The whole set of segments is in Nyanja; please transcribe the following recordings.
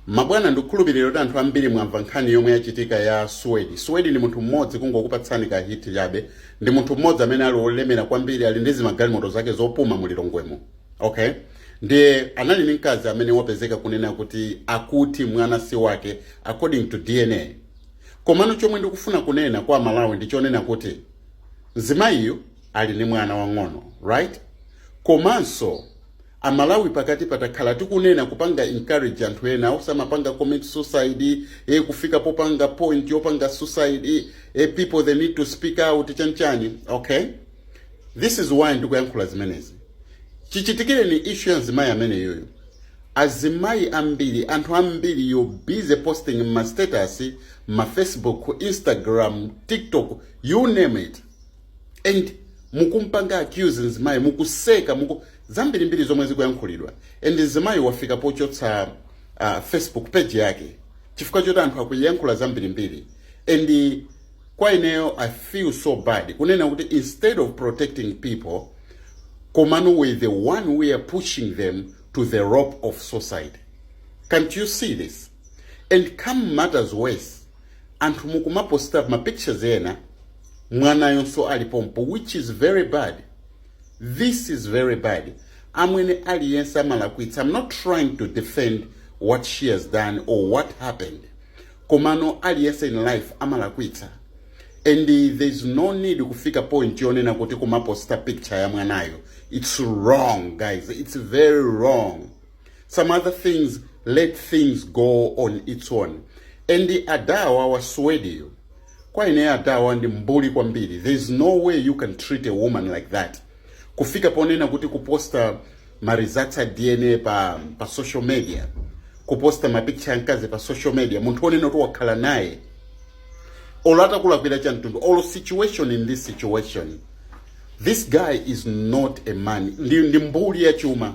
mabwana ndikukhulupirira kuti anthu ambiri mwamva nkhani yomwe yachitika ya suwedi suwedi ndi munthu mmodzi kungokupatsani ka hint chabe ndi munthu mmodzi amene ali wolemera kwambiri ali ndi zimagalimoto zake zopuma mu lilongwemo okay ndiye anali ndi mkazi amene wapezeka kunena kuti akuti mwana si wake according to dna komano chomwe ndikufuna kunena kwa aMalawi ndi chonena kuti mzimayiyu ali ndi mwana wang'ono right komanso aMalawi pakati takhala tikunena kupanga encourage anthu ena osamapanga commit suicide, eh kufika pa point yopanga suicide, eh people they need to speak out chani chani, okay this is why ndikuyankhula zimenezi. Chichitikireni issue ya mzimayi ameneyoyo, azimayi ambiri, anthu ambiri you're busy posting m'ma status, m'ma Facebook, Instagram, TikTok, you name it. and mukumpanga accuse mzimayi mukuseka muku zambirimbiri zomwe zikuyankhulidwa and mzimayi wafika pochotsa uh, facebook page yake chifukwa choti anthu akuyankhula zambirimbiri and kwa ineyo i feel so bad kunena kuti instead of protecting people komano we're the one we are pushing them to the rope of suicide can't you see this and to make matters worse anthu mukumaposta mapictures ena mwanayonso ali pompo which is very bad this is very bad amwene aliyense amalakwitsa i'm not trying to defend what she has done or what happened komano aliyense in life amalakwitsa and uh, there is no need kufika point yonena kuti kumaposta picture ya mwanayo it's wrong guys it's very wrong some other things let things go on its own and adawa a suwediyo kwa ine adawa ndi mbuli kwambiri there is no way you can treat a woman like that kufika ponena kuti kuposta maresults a dna pa, pa social media kuposta mapicture a mkazi pa social media munthu wonena kuti wakhala naye olo atakulakwira cha mtundu olo situation in this situation this guy is not a man ndi, ndi mbuli ya chuma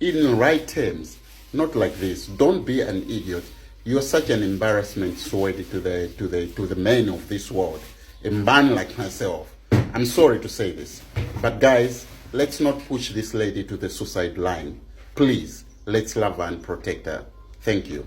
in right terms not like this don't be an idiot you're such an embarrassment swedi to the, to the, to the men of this world a man like myself i'm sorry to say this but guys let's not push this lady to the suicide line please let's love her and protect her thank you